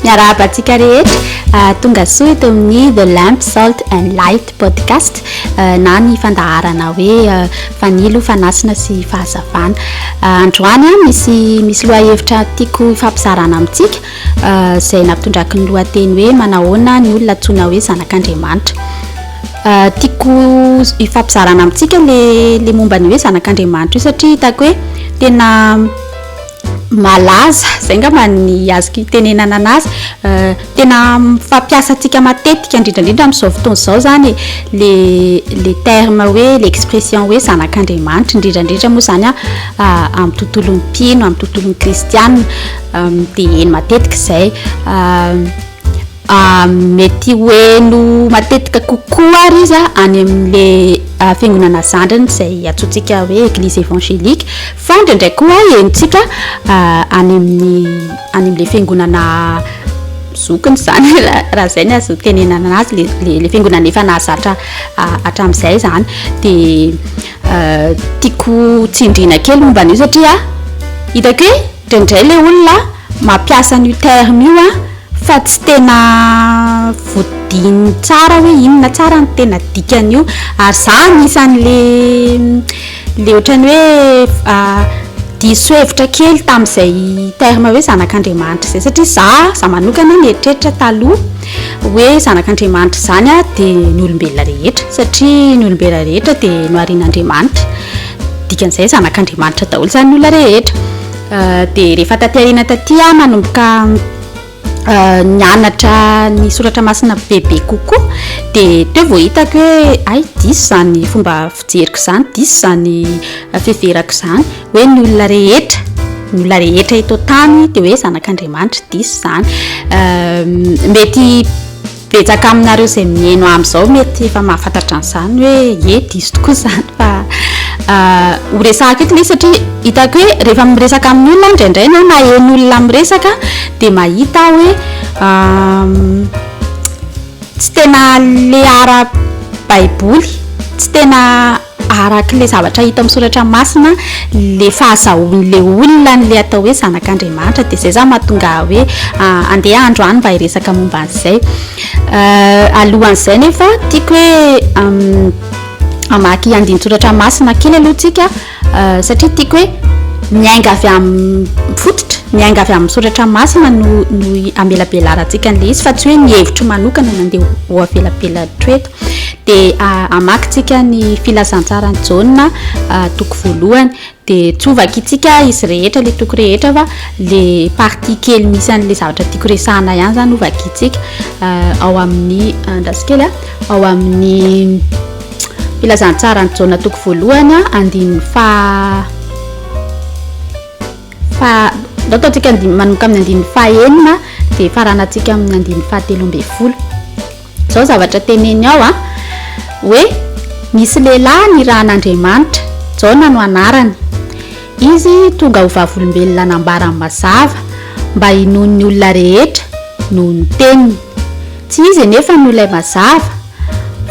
Miarahaba antsika rehetra ah, tonga soa eto amin'ny the lamp salt and light podcast ah, na ny fandaharana hoe ah, fanilo fanasina sy fahazavana androany a misy misy loha hevitra tiako ifampizarana amintsika izay nampitondraky ny lohateny hoe manahoana ny olona tsoina hoe zanak'andriamanitra Tiako hifampizarana amintsika ilay momba ny hoe zanak'Andriamanitra io satria hitako hoe tena malaza, izay angamba ny azoko itenenana anazy, euh, tena fampiasa antsika matetika indrindra indrindra amin'izao fotoana izao izany e, le le terme hoe le expression hoe zanak'Andriamanitra indrindra indrindra moa izany an euh, amin'ny tontolon'ny mpino, amin'ny tontolon'ny kristiana, euh, dia heno matetika izay. Mety ho heno matetika kokoa ary izy any amin'ilay fiangonana zandriny izay antsointsika hoe Eglise Evangelique fa indraindray koa henontsika any amin'ny any amin'ilay fiangonana zokiny izany raha izay no azo itenenana azy, ilay ilay fiangonana efa nahazatra hatramin'izay izany. Dia tiako tsindriana kely momba an'io satria hitako hoe. Indraindray le olona mampiasa an'io terme io an, fa tsy tena vodiny tsara hoe inona tsara ny tena dikan'io. Ary za anisan'le le ohatran'ny hoe diso hevitra kely tamin'izay terme hoe zanak'Andriamanitra izay satria za za manokana nieritreritra taloha hoe zanak'Andriamanitra izany an dia ny olombelona rehetra satria ny olombelona rehetra dia noharian'Andriamanitra. Dikan'izay zanak'Andriamanitra daholo izany ny olona rehetra. Dia rehefa taty aoriana taty aho nanomboka nianatra ny soratra masina bebe kokoa dia teo vao hitako hoe hay diso izany fomba fijeriko izany, diso izany fiheverako izany hoe ny olona rehetra, ny olona rehetra eto an-tany dia hoe zanak'Andriamanitra, diso izany. Mety. Betsaka aminareo izay mihaino ahy amin'izao mety efa mahafantatra an'izany hoe ye diso tokoa izany fa ho resahako eto ilay izy satria hitako hoe rehefa miresaka amin'ny olona aho indraindray na maheno olona miresaka dia mahita aho hoe tsy tena le ara-baiboly tsy tena araka ilay zavatra hita amin'ny soratra masina le fahazahoan'le olona an'le atao hoe zanak'andriamanitra dia zay zany mahatonga hoe ah, andeha andro any mba hiresaka momba an'izay euh, alohan'izay nefa tiako hoe amaky andin-tsoratra masina kely aloha tsika euh, satria tiako hoe miainga avy amin'ny fototra miainga avy amin'ny soratra masina no no amelabelarantsika an'le izy fa tsy hoe ny hevitro manokana nandeha ho avelabelatra eto dia hamaky tsika ny filazantsaran'i jaona toko voalohany dia tsy hovakitsika izy rehetra le toko rehetra fa le partie kely misy an'la zavatra tiako resahana ihany zany hovakitsika ao amin'ny andrasikely a ao amin'ny filazantsaran'i jaona toko voalohany a andininy fa fa zao taontsika manomboka amin'ny andininy fahenina dia faranatsika amin'ny andininy fahatelo ambe folo Izao zavatra teneny ao an! Hoe, Nisy lehilahy nirahan' Andriamanitra, Jaona no anarany. Izy tonga ho vavolombelona nambarany mazava, mba hinoan' ny olona rehetra, noho ny teniny. Tsy izy anefa no ilay mazava,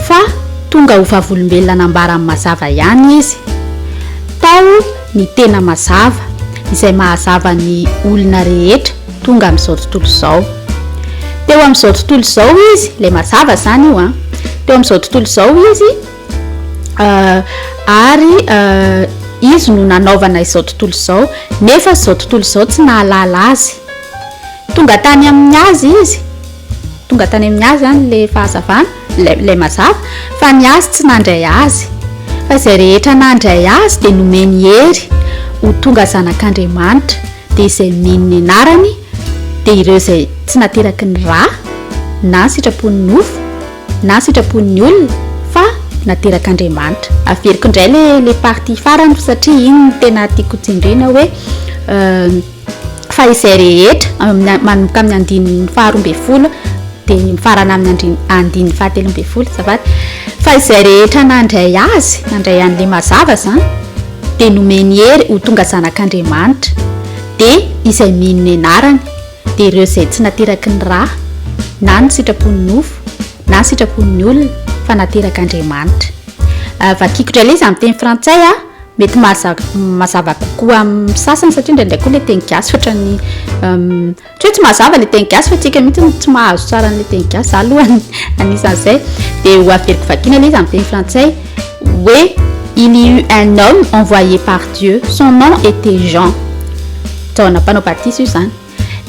fa tonga ho vavolombelona nambarany mazava ihany izy. Tao ny tena mazava, izay mahazava ny olona rehetra. tonga amin'izao tontolo izao. Teo amin'izao tontolo izao izy, ilay mazava izany io an, teo amin'izao tontolo izao izy, euh, ary euh, izy no nanaovana izao tontolo izao, nefa izao tontolo izao tsy nahalala azy. Tonga tany amin'ny azy izy, tonga tany amin'ny azy zany le fahazavana, ilay mazava, fa ny azy tsy nandray azy. Fa izay rehetra nandray azy dia nomeny hery ho tonga zanak'Andriamanitra. dia izay mino ny anarany, dia ireo izay tsy nateraky ny ra, na ny sitrapon'ny nofo, na ny sitrapon'ny olona, fa naterak'Andriamanitra. Averiko indray le le partie farany satria iny no tena tiako tsindriana hoe euh, fa izay rehetra manomboka amin'ny andininy faharoa ambin'ny folo dia mifarana amin'ny andininy fahatelo ambin'ny folo zafady fa izay rehetra nandray azy nandray an'le mazava zany dia nomeny hery ho tonga zanak'Andriamanitra, dia izay mino ny anarany, dia ireo izay tsy nateraky ny ra, na ny sitrapon'ny nofo, na ny sitrapon'ny olona, fa naterak'Andriamanitra. Ah, vakiko indray ilay izy amin'ny teny frantsay ah, mety mahaza, mazava kokoa amin'ny sasany satria indraindray koa ilay teny gasy ohatran'ny, uhm, Satria tsy mazava ilay teny gasy fa tsika mihitsy no tsy mahazo tsara an'ilay teny gasy. Za aloha anisan'izay dia ho averiko vakiana ilay izy amin'ny teny frantsay hoe il y eut un homme envoyé par Dieu, son nom était Jean. Jaona mpanao batisa io izany.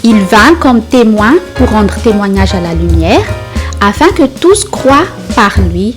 Il vint comme témoin pour rendre témoignage à la lumière afin que tous croient par lui.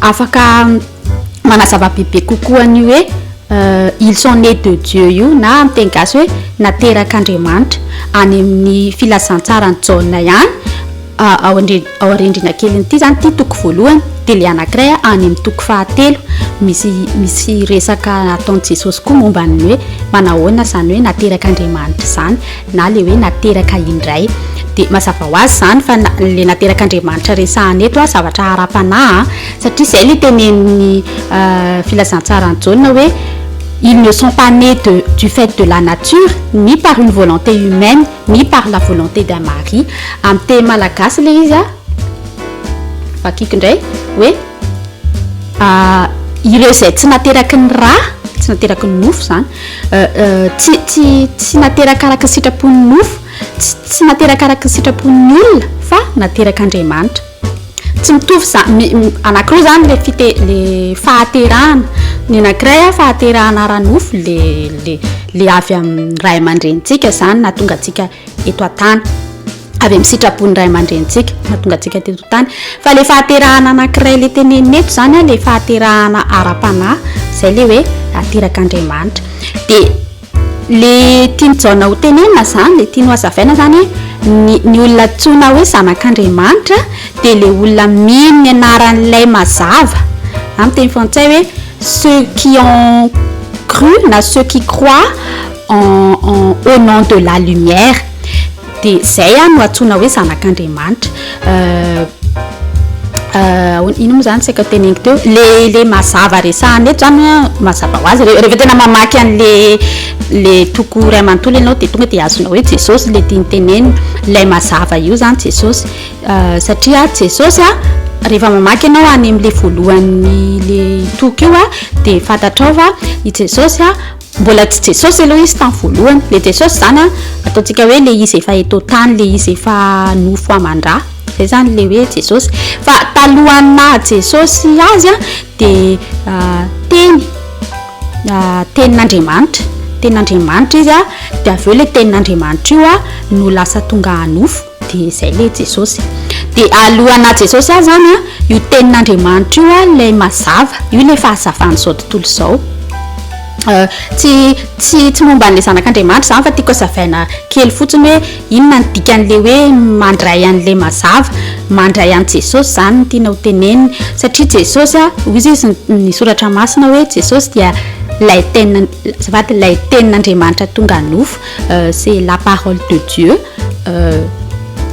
afaka manazava bebe kokoa ny hoe euh, ils sont nés de Dieu io na amin'ny teny gasy hoe naterak'Andriamanitra any amin'ny filazantsaran'i Jaona ihany Ah, ao arendrina kely n'ity zany ty toko voalohany de le anakiray any amin'ny toko fahatelo misy misy resaka ataon'i jesosy koa momba ny hoe manahoana zany hoe naterak'andriamanitra zany na le hoe nateraka indray dia mazava ho azy izany fa le nateraka Andriamanitra resahana eto a zavatra ara-panahy a satria izay le tenenin'ny filazantsaran'i Jaona hoe ils ne sont pas nés de du fait de la nature ni par une volonté humaine ni par la volonté d'un mari amin'ny teny malagasy le izy a vakiko indray hoe Ireo izay tsy nateraky ny ra, tsy nateraky ny nofo izany, tsy tsy tsy nateraka araka ny sitrapon'ny nofo, tsy tsy nateraka araka ny sitrapon'ny olona fa naterak'Andriamanitra. Tsy mitovy izany, anankiroa izany ilay fite- ilay fahaterahana, ny anankiray fahaterahana ara-nofo ilay ilay avy amin'ny ray aman-drenintsika izany nahatonga antsika eto an-tany. avy amin'ny sitrapon'ny ray aman-drenintsika mahatonga antsika teto tany fa ilay fahaterahana anankiray ilay tenenina eto izany ilay fahaterahana ara-panahy izay ilay hoe aterak'andriamanitra dia le tiany jaona ho tenenina izany le tiany ho azavaina izany ny ny olona tsoina hoe zanak'andriamanitra dia le olona mino ny anaran'ilay mazava a miteny frantsay hoe ceux qui ont cru na ceux qui croient en en au nom de la lumière Dia izay aho no antsoina hoe zanak'Andriamanitra. Inona moa izany saika teneniko teo? Ilay ilay mazava resahana eto izany an, mazava ho azy. Rehefa tena mamaky an'ilay ilay toko iray manontolo ianao dia tonga dia azonao hoe Jesosy ilay tiany tenenina. Ilay mazava io izany Jesosy. Satria Jesosy an, rehefa mamaky ianao any amin'ilay voalohan'ny ilay toko io an, dia fantatrao fa i Jesosy an, Mbola tsy Jesosy aloha izy tamin'ny voalohany. Ilay Jesosy izany an, ataontsika hoe ilay izy efa eto an-tany, ilay izy efa nofo aman-dra. Izay izany ilay hoe Jesosy. Fa talohan'ny naha Jesosy azy an, dia teny, tenin'Andriamanitra. Tenin'Andriamanitra izy an, dia avy eo ilay tenin'Andriamanitra io an no lasa tonga nofo. Dia izay ilay Jesosy. Dia alohan'ny naha Jesosy azy izany an, io tenin'Andriamanitra io an, ilay mazava, io ilay fahazavan'izao tontolo izao. Euh, tsy tsy tsy momba an'ilay zanak'andriamanitra izany fa tiako hazavaina kely fotsiny hoe inona ny dikan'ilay hoe mandray an'ilay mazava mandray an'i jesosy izany ny tiana ho teneniny satria jesosy a hoy izy izy ny soratra masina hoe jesosy dia lay tenina azafady lay tenin'andriamanitra tonga nofo euh, c'est la parole de Dieu euh,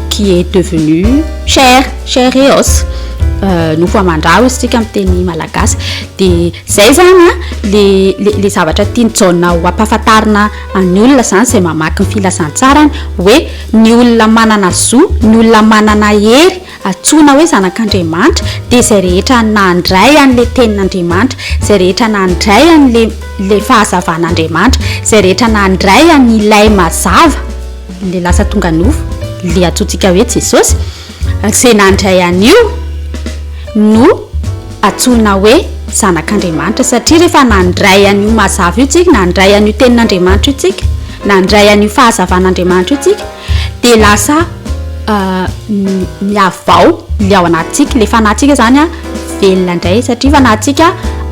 qui est devenue chair, chair et os. Euh, nofo aman-draho izy tsika miteny malagasy dia zay zany a le le le zavatra tiany jaona ho ampahafantarina any olona zany zay mamaky ny filazantsarany hoe ny olona manana zo ny olona manana hery Antsoina hoe zanak'Andriamanitra dia izay rehetra nandray an'ilay tenin'Andriamanitra, izay rehetra nandray an'ilay ilay fahazavan'Andriamanitra, izay rehetra nandray an'ilay mazava, ilay lasa tonga nofo, ilay antsointsika hoe Jesosy, izay nandray an'io no antsoina hoe zanak'Andriamanitra satria rehefa nandray an'io mazava io tsika, nandray an'io tenin'Andriamanitra io tsika, nandray an'io fahazavan'Andriamanitra io tsika, dia lasa ny avao ny ao anatintsika ilay fanahintsika zany a velona indray satria fanahintsika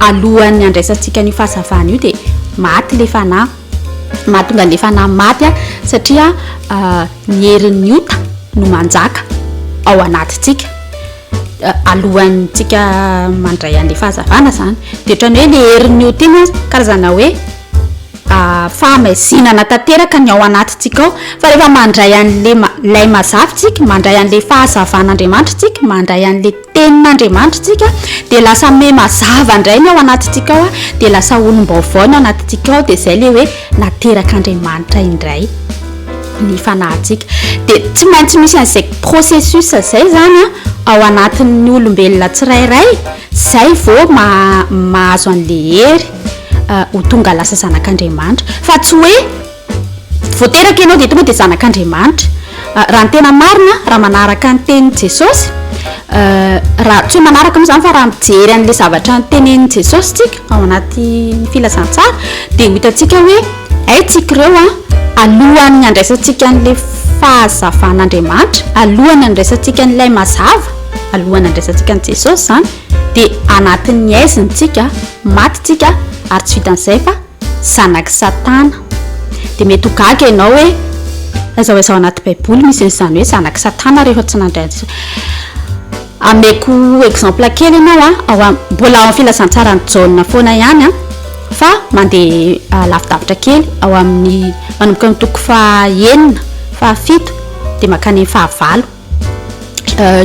alohan'ny andraisantsika ny fahazavana io dia maty ilay fanahy mahatonga an'ilay fanahy maty a satria ny herin'ny ota no manjaka ao anatintsika Alohantsika mandray an'ilay fahazavana izany dia ohatran'ny hoe ilay herin'ny io teny an, karazana hoe fahamaizinana tanteraka ny ao anatintsika ao. Fa rehefa mandray an'ilay ma- ilay mazava isika, mandray an'ilay fahazavan'Andriamanitra isika, mandray an'ilay tenin'Andriamanitra isika, dia lasa miha-mazava indray ny ao anatintsika ao an, dia lasa olom-baovao ny ao anatintsika ao, dia izay ilay hoe. naterak'Andriamanitra indray ny fanahintsika dia tsy maintsy misy an'izay processus zay zany a ao anatin'ny olombelona tsirairay zay vo mahazo an'le hery euh, ho tonga lasa zanak'Andriamanitra fa tsy hoe voateraka ianao dia tonga dia zanak'Andriamanitra euh, raha ny tena marina raha manaraka ny tenin'i Jesosy Raha tsy hoe manaraka moa izany fa raha mijery an'ilay zavatra nytenenin'i Jesosy isika ao anaty filazantsara dia ho hitantsika hoe hay tsika ireo a, alohan'ny handraisantsika an'ilay fahazavan'Andriamanitra, alohan'ny handraisantsika an'ilay mazava, alohan'ny handraisantsika an'i Jesosy izany dia anatin'ny haizina isika, maty isika ary tsy vitan'izay fa. zanak'i Satana. Dia mety ho gaga ianao hoe, aiza ho aiza ao anaty Baiboly misy an'izany hoe zanak'i Satana rehefa tsy nandray an'i Jesoa? Ameko exemple kely ianao an, ao am-, mbola ao amin'ny filazantsaran'i Jaona foana ihany an, fa mandeha lavidavitra kely, ao amin'ny, manomboka amin'ny toko fahenina, fahafito dia mankany amin'ny fahavalo.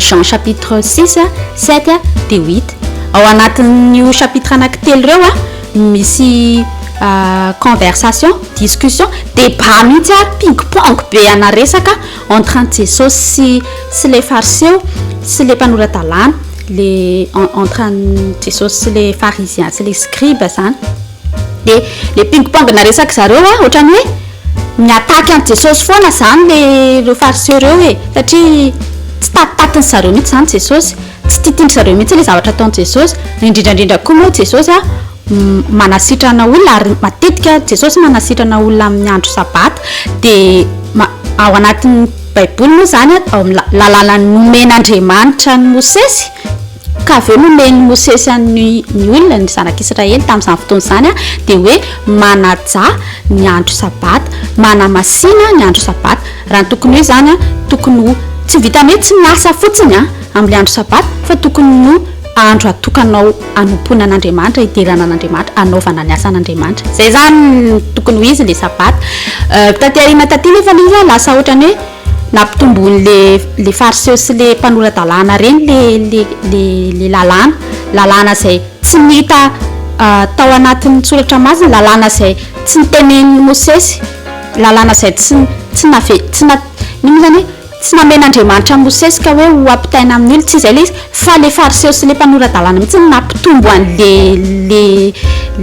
Jean chapitre six a, sept a, dia huit. Ao anatin'io chapitre anaky telo ireo a, misy conversation, discussion, débat mihitsy ary, ping pong be ana resaka entre an'i Jesosy sy sy ilay Fariseo sy ilay mpanora-dalàna, ilay entre an'i Jesosy sy ilay Pharisien sy ilay scribe izany. De le ping pong naresaka zareo a otrany hoe mi attaque an'i Jesosy foana zany le reo fariseo reo e! satria tsy tatitatin'ny zareo mihitsy zany Jesosy, tsy tintin-dry zareo mihitsy le zavatra ataon'i Jesosy, indrindra indrindra koa moa Jesosy a manasitrana olona ary matetika Jesosy manasitrana olona amin'ny andro sabata de ma- ao anatin'ny baiboly moa zany a ao amin'ny la- lalàna nomen'Andriamanitra an'i Mosesy, Ka ve nomen'i Mosesy an'ny ny olona, ny Zanak'i Israely, tamin'izany fotoana izany dia hoe manajà ny andro sabata, manamasina ny andro sabata. Raha ny tokony ho izy izany, tokony ho tsy vitan'ny hoe tsy miasa fotsiny amin'ilay andro sabata fa tokony ho andro atokanao hanompoana an'Andriamanitra, hiderana an'Andriamanitra, hanaovana ny asan'Andriamanitra. Izay izany no tokony ho izy ilay sabata. Taty aoriana taty nefany izy lasa ohatran'ny hoe. Nampitomboin' le le fariseo sy le mpanora-dalàna reny le le le le lalàna, lalàna izay tsy nihita tao anatin' ny Soratra Masina, lalàna izay tsy nitenenin' i Mosesy, lalàna izay tsy tsy nave tsy na ino moa izany hoe tsy namen' Andriamanitra an' i Mosesy ka hoe ho ampitaina amin' ny olona, tsy izay ilay izy fa le fariseo sy le mpanora-dalàna mihitsy no nampitombo an' le le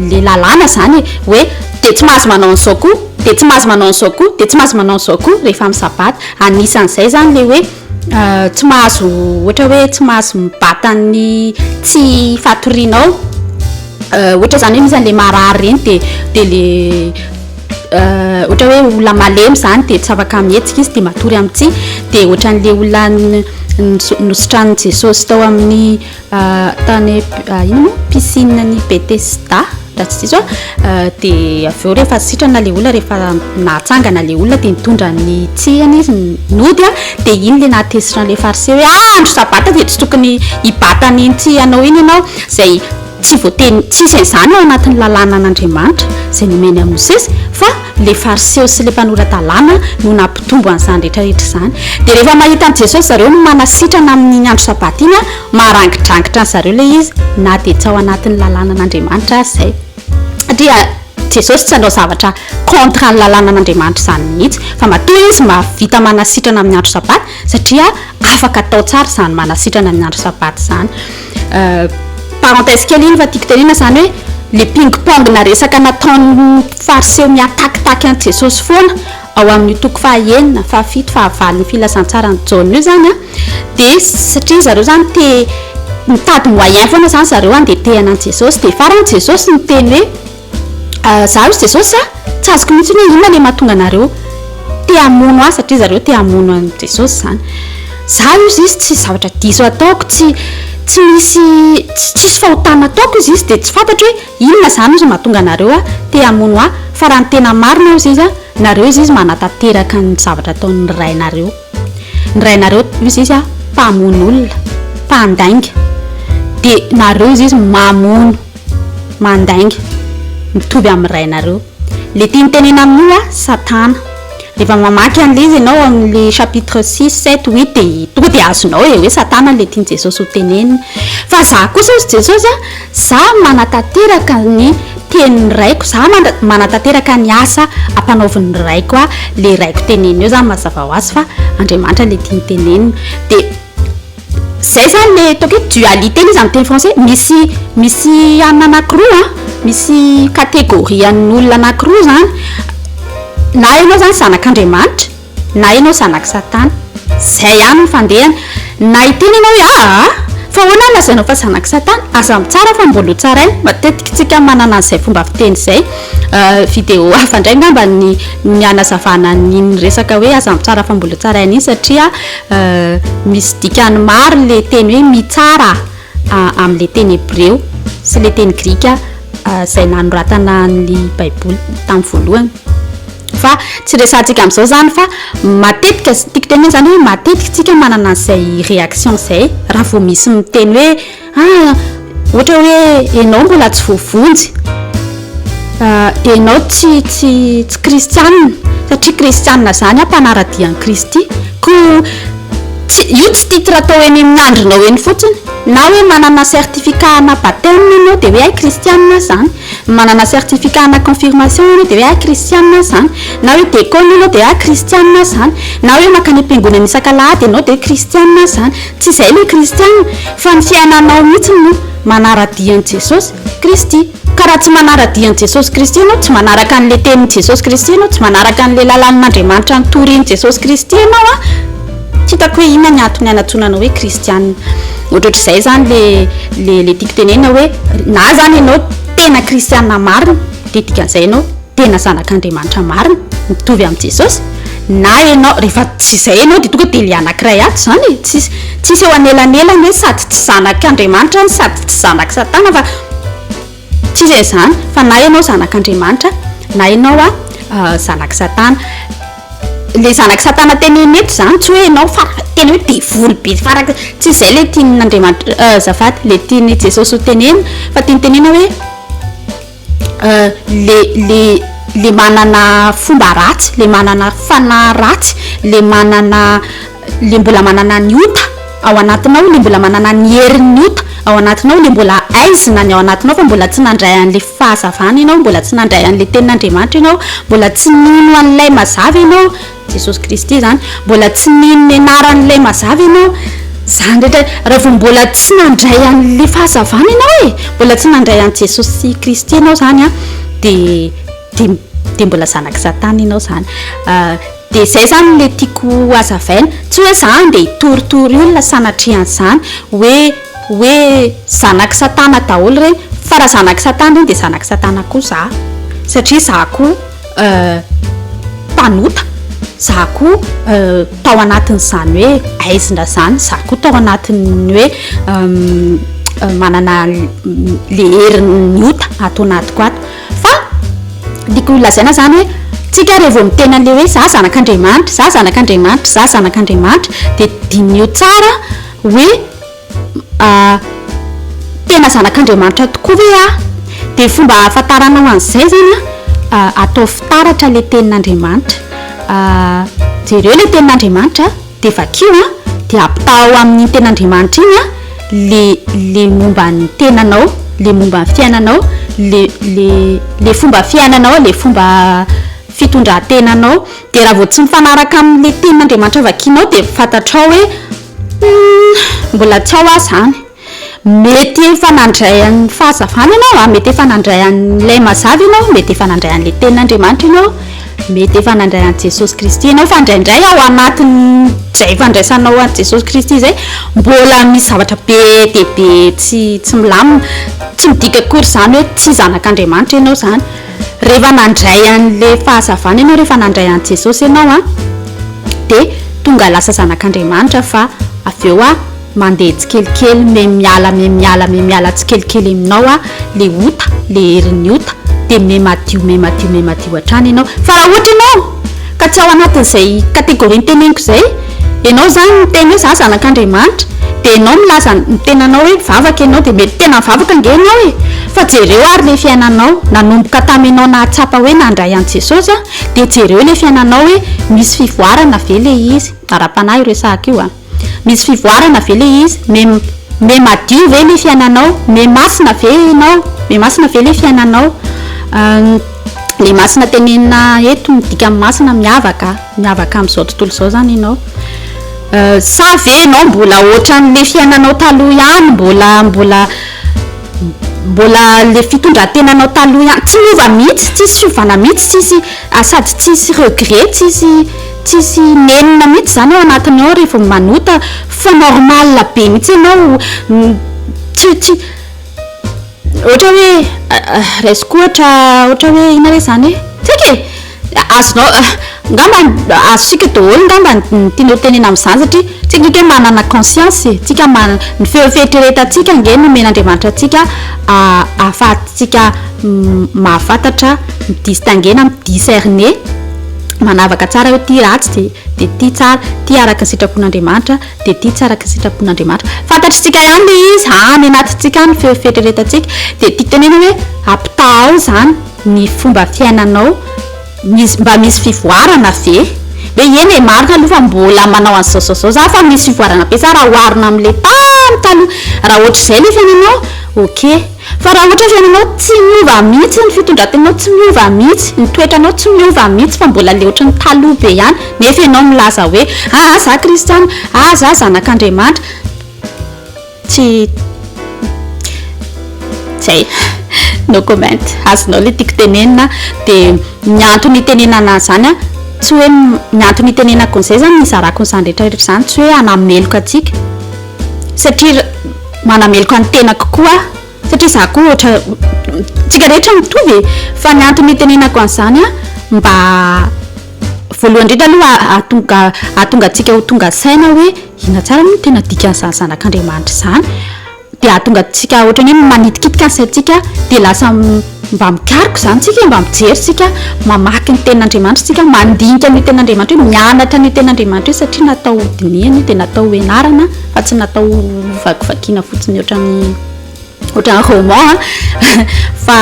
le lalàna izany e, hoe dia tsy mahazo manao an' izao koa. Dia tsy mahazo manao an'izao koa, dia tsy mahazo manao an'izao koa rehefa amin'ny sabata. Anisan'izay izany ilay hoe tsy mahazo, ohatra hoe tsy mahazo mibata ny tsy fatorianao. Ohatra izany hoe misy an'ilay marary ireny dia dia ilay ohatra hoe olona malemy izany dia tsy afaka mihetsika izy dia matory amin'ny tsihy. Dia ohatran'ilay olona nosi- nositran'i Jesosy tao amin'ny. Tany inona moa? Piscine ny Betesda raha tsy diso aho, dia avy eo rehefa sitrana ilay olona, rehefa nahatsangana ilay olona dia nitondra ny tsihany izy nody an, dia iny ilay naha tezitra an'ilay fariseo hoe ah andro sabata dia tsy tokony hibata an'iny tsihinao iny ianao izay tsy voateny, tsisy an'izany ao anatin'ny lalànan'Andriamanitra izay nomeny an'i Mosesy fa. Ilay Fariseo sy ilay mpanora-dalàna no nampitombo an'izany rehetrarehetra izany. Dia rehefa mahita an'i Jesosy zareo manasitrana amin'iny andro Sabata iny, marangidrangitra an'i zareo ilay izy, na dia tsy ao anatin'ny lalànan'Andriamanitra aza izay. Satria Jesosy tsy hanao zavatra contre ny lalànan'Andriamanitra izany mihitsy, fa matoa izy mahavita manasitrana amin'ny andro Sabata, satria afaka atao tsara izany manasitrana ny andro Sabata izany. Parenthèse kely iny fa tiako tenenina zany hoe le ping pong na resaka nataon'ny fariseo miatakitaky an'i Jesosy foana ao amin'io toko fahaenina, fahafito, fahavalon'ny filazantsaran'i Jaona io zany an, dia satria zareo zany te mitady moyen foana zany zareo handeha te hanan'i Jesosy, dia farany Jesosy niteny hoe. Zaho ry Jesosy a, tsy azoko mihitsy hoe inona le mahatonga anareo te hamono ahy satria zareo te hamono an'i Jesosy zany. Zaho io zisy tsy zavatra diso ataoko, tsy tsy misy tsy tsisy fahotana ataoko io zisy de tsy fantatro hoe inona zany ozy mahatonga anareo a te hamono ahy fa raha ny tena marina aho zisy a, nareo io zisy manatanteraka ny zavatra ataon'ny rainareo. Ny rainareo io zisy a mpamono olona, mpandainga de nareo io zisy mamono. Mandainga. Mitovy amin'ny rainareo. Le tiany tenena amin'io a, satana. Rehefa mamaky an'le izy ianao amin'le chapitre six, sept, huit de tonga de azonao e, hoe satana le tian'i Jesosy ho tenenina. Fa za kosa hozy Jesosy a, za manatanteraka ny tenin'ny Raiko, za manatanteraka ny asa ampanaovin'ny Raiko ahy. Le Raiko tenenina eo zany mazava hoazy fa Andriamanitra le tiany tenenina. De. Zay zany le ataoko hoe dualité le izy amin'ny teny français misy misy anina anakiroa an, misy catégorie an'olona anakiroa zany, na ianao zany zanak'Andriamanitra na ianao zanak'i Satana, zay ihany ny fandehany, na hiteny ianao hoe aa fa ahoana no lazainao fa zanak'i Satana, aza mitsara fa mbola hotsaraina, matetika isika manana an'izay fomba fiteny izay, vidéo hafa indray angamba ny ny hanazavana an'iny resaka hoe aza mitsara fa mbola hotsaraina iny satria Euh, misy dikany maro le teny hoe mitsara euh, amin'le teny hebreo sy le teny grika euh, zay nanoratana ny baiboly tamin'ny voalohany fa tsy resantsika am'izao zany fa matetika tiako teny hoe zany hoe matetika tsika manana an'izay réaction zay raha vao misy miteny hoe Ah! Ohatra hoe enao mbola tsy voavonjy, ah, enao tsy, tsy, tsy kristianina, satria kristianina izany an, mpanara-dia an'i Kristy, koa tsy, io tsy titre atao eny amin'ny andrinao eny fotsiny, na hoe manana certificat ana bapteme enao dia hoe hay kristianina izany, manana certificat ana confirmation enao dia hoe hay kristianina izany, na hoe dekona enao dia hoe hay kristianina izany, na hoe mankany am-piangonana isak'alahady enao dia hoe kristianina izany. Tsy izay ilay kristiana, fa ny fiainanao mihitsy no manara-dia an'i Jesosy Kristy. Ka raha tsy manara-dia an'i Jesosy Kristy ianao, tsy manaraka an'ilay tenin'i Jesosy Kristy ianao, tsy manaraka an'ilay lalàn'Andriamanitra notorin'i Jesosy Kristy ianao an, tsy hitako hoe inona ny antony hanatsoina anao hoe kristiana. Ohatrohatr'izay izany ilay, ilay tiako tenenina hoe, na izany ianao tena kristiana marina, dia dikan'izay ianao. tena zanak'Andriamanitra marina mitovy amin'i Jesosy na ianao rehefa tsy izay ianao dia tonga dia ilay anankiray atsy izany e, tsisy tsisy eo anelanelany hoe sady tsy zanak'Andriamanitra no sady tsy zanak'i Satana fa tsisy an'izany fa na ianao zanak'Andriamanitra na ianao a ah, zanak'i Satana le zanak'i Satana teneny eto izany tsy hoe ianao fa tena hoe devoly be faraka tsy izay le tian'Andriamanitra euh, zafady le tian'i Jesosy ho tenena fa tiany tenena hoe le le le manana fomba ratsy le manana fanahy ratsy le manana le mbola manana ny ota ao anatinao le mbola manana ny herin'ny ota ao anatinao le mbola aizina ny ao anatinao fa mbola tsy nandray an'le fahazavana ianao mbola tsy nandray an'le tenin'Andriamanitra ianao mbola tsy nino an'ilay mazava ianao Jesosy Kristy izany, mbola tsy nino ny anaran'ilay mazava ianao, izany rehetra, raha vao mbola tsy nandray an'ilay fahazavana ianao e, mbola tsy nandray an'i Jesosy Kristy ianao izany an, dia dia dia mbola zanak'i Satana ianao izany. Dia izay izany ilay tiako hazavaina, tsy hoe izaho handeha hitoritory olona sanatria an'izany hoe hoe zanak'i Satana daholo ireny, fa raha zanak'i Satana ireny dia zanak'i Satana koa izaho, satria izaho koa mpanota, za koa tao anatin'izany hoe aizin-drazana, za koa tao anatin'ny hoe manana le herin'ny ota ato anatiko ato fa tiako holazaina zany hoe tsika revo miteny an'le hoe za zanak'andriamanitra, za zanak'andriamanitra, za zanak'andriamanitra de diniho tsara hoe Tena zanak'Andriamanitra tokoa ve aho? Dia fomba hahafantaranao an'izay izany an, atao fitaratra ilay tenin'Andriamanitra. Jereo ilay tenin'Andriamanitra, dia vakio an, dia ampitahao amin'iny tenin'Andriamanitra iny ilay, ilay momba ny tenanao, ilay momba ny fiainanao, ilay, ilay, ilay fomba fiainanao, ilay fomba fitondran-tenanao. Dia raha vao tsy mifanaraka amin'ilay tenin'Andriamanitra vakianao dia fantatrao hoe. Humm, mbola tsy ao aho izany. Mety efa nandray an'ny fahazavana ianao an, mety efa nandray an'ilay mazava ianao, mety efa nandray an'ilay tenin'Andriamanitra ianao, mety efa nandray an'i Jesosy Kristy ianao fa indraindray ao anatin'izay fandraisanao an'i Jesosy Kristy izay mbola misy zavatra be dia be tsy tsy milamina, tsy midika akory izany hoe tsy zanak'Andriamanitra ianao izany. Rehefa nandray an'ilay fahazavana ianao, rehefa nandray an'i Jesosy ianao an, dia tonga lasa zanak'Andriamanitra fa avy eo an, mandeha tsikelikely, miha miala, miha miala, miha miala tsikelikely aminao an, ilay ota, ilay herin'ny ota, dia miha madio, miha madio, miha madio hatrany ianao. Fa raha ohatra ianao. Ka tsy ao anatin'izay catégorie niteneniko izay ianao izany miteny hoe za zanak'Andriamanitra dia ianao milaza ny tenanao hoe mivavaka ianao dia mety tena mivavaka ange ianao e! Fa jereo ary ilay fiainanao nanomboka tamin'ny ianao nahatsapa hoe nandray an'i Jesosy aho dia jereo ilay fiainanao hoe misy fivoarana ve ilay izy? Ara-panahy io resahako io a! Misy fivoarana ve le izy? Me Me madio ve le fiainanao? Me masina ve enao? Me masina ve le fiainanao? Le masina tenenina eto midika amin'ny masina miavaka, miavaka amin'izao tontolo izao zany enao. Sa ve enao mbola ohatran'le fiainanao taloha ihany, mbola mbola mbola le fitondrantenanao taloha ihany, tsy miova mihitsy, tsisy fiovana mihitsy, tsisy sady tsisy regret, tsisy. Tsisy nenina mihitsy zany ao anatiny ao revô manota fa normal be mihitsy ianao tsy tsy ohatra hoe raisiko ohatra ohatra hoe ina re zany e tsy haiko e azonao ngamba azontsika daholo ngamba ny tiany ho tenena amizany satria tsy haiko hoe manana conscience e tsika manana ny feo fieritreretantsika ange no omen'Andriamanitra antsika ahafahantsika mahafantatra mi distinguer na mi discerner Manavaka tsara hoe ty ratsy dia dia ty tsara, ty araka ny sitrapon'Andriamanitra dia ty tsy araka ny sitrapon'Andriamanitra. Fantatritsika ihany le izy any anatintsika any ny fieritreretantsika dia ty tenena hoe ampitahao zany ny fomba fiainanao misy mba misy fivoarana ve? Hoe eny e marina aloha fa mbola manao an'izao zao zao za fa misy fivoarana be sa raha oharina amle tany taloha raha ohatr'izay le fiainanao ok. Fa raha ohatra fiainanao tsy miova mihitsy, ny fitondrantenanao tsy miova mihitsy, ny toetranao tsy miova mihitsy fa mbola le ohatry ny taloha be ihany, nefa ianao milaza hoe aa za kristiana, aa za zanak'Andriamanitra, tsy zay, no comment, azonao le tiako tenenina de ny antony itenenana zany tsy hoe ny antony itenenako an'izay zany ny hizarako an'izany rehetra rehetra zany tsy hoe hanameloka antsika, satria manameloka ny tenako koa aho satria za koa ohatra tsika rehetra mitovy e fa ny antony itenenako an'izany a mba voalohany indrindra aloha ahatonga ahatonga antsika ho tonga saina hoe inona tsara moa no tena dikan'izany zanak'Andriamanitra izany dia ahatonga antsika ohatran'ny hoe manitikitika ny saintsika dia lasa Mba mikaroka izany tsika, mba mijery tsika, mamaky ny tenin'Andriamanitra tsika, mandinika an'io tenin'Andriamanitra io, mianatra an'io tenin'Andriamanitra io satria natao ho dinihana io dia natao ho ianarana fa tsy natao ho vakivakiana fotsiny ohatran'ny ohatran'ny roman a fa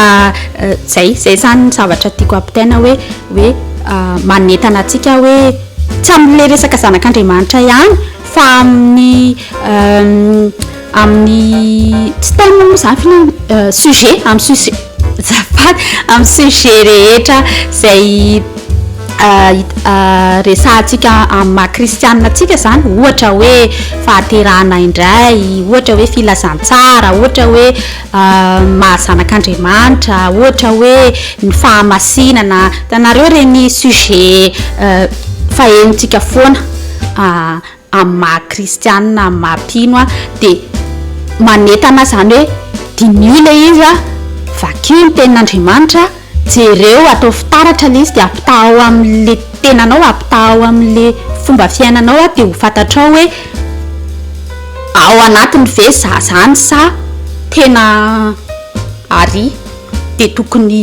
izay izay izany ny zavatra tiako ampitaina hoe hoe manentana antsika hoe tsy amin'ilay resaka zanak'Andriamanitra ihany fa amin'ny Amin'ny tsy tainina moa izany fihinana sujet amin'ny sujet zafady amin'ny sujet rehetra izay resahantsika amin'ny maha kristianina antsika izany ohatra hoe fahaterahana indray ohatra hoe filazantsara ohatra hoe maha zanak'Andriamanitra ohatra hoe ny fahamasinana hitanareo ireny sujet fahenontsika foana amin'ny maha kristianina, amin'ny maha mpino aho dia manentana izany hoe diniho ilay izy a, vakio ny tenin'Andriamanitra, jereo, atao fitaratra ilay izy dia ampitahao amin'ilay tenanao, ampitahao amin'ilay fomba fiainanao a, dia ho fantatrao hoe ao anatiny ve za izany sa tena àry dia tokony.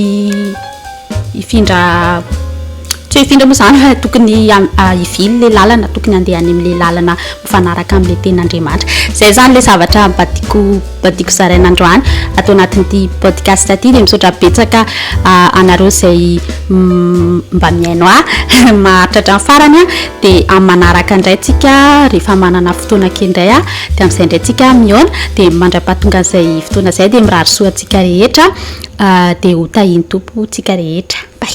Hifindra tsy hoe hifindra moa izany fa tokony hivily ilay lalana, tokony handeha any amin'ilay lalana mifanaraka amin'ilay tenin'Andriamanitra. Izay izany ilay zavatra ambadiko ambadiko zaraina androany ato anatin'ity podcast ity. Dia misaotra betsaka anareo izay mba mihaino ahy maharitra hatramin'ny farany a. Dia amin'ny manaraka indray tsika rehefa manana fotoana kely indray aho. Dia amin'izay indray tsika mihaona. Dia mandra-pahatongan'izay fotoana izay dia mirary soa antsika. Tsika rehetra dia ho tahian'ny Tompo tsika rehetra. Bay.